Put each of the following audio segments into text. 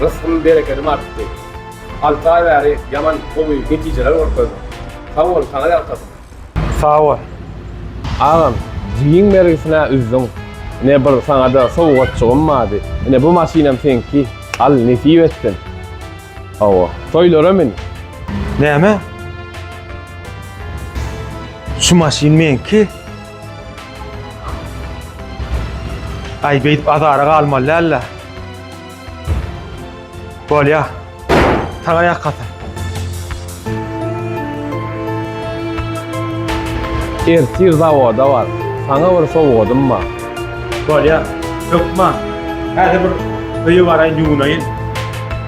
Rysgym berekedim artdy. Alty aý bäri ýaman gowy netijeler görkezdiň. Sag bol saňa ýalkasyn. Sag bol. Agam jigiň bergisine üzdüň. Ine bir saňada sowgatjygym bardy. Ine bu maşynam seňki. Al nesip etsin. Hawa. Toýlara mün. Näme? Şu maşyn meňki? Ay beyt azara galmaly däl-le. Bolýa. Saňa ýakasy. Ertir zawoda bar. Saňa bir sowgadym bar. Bolýa. Hökman. Häzir bir öýe baraýyn, ýuwunaýyn.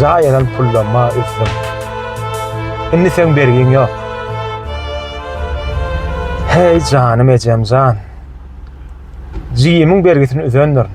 Jaý alan pullama üzdüm. Indi seň bergiň ýok. Heý janym ejem jan. Jigimiň bergisini üzendirin.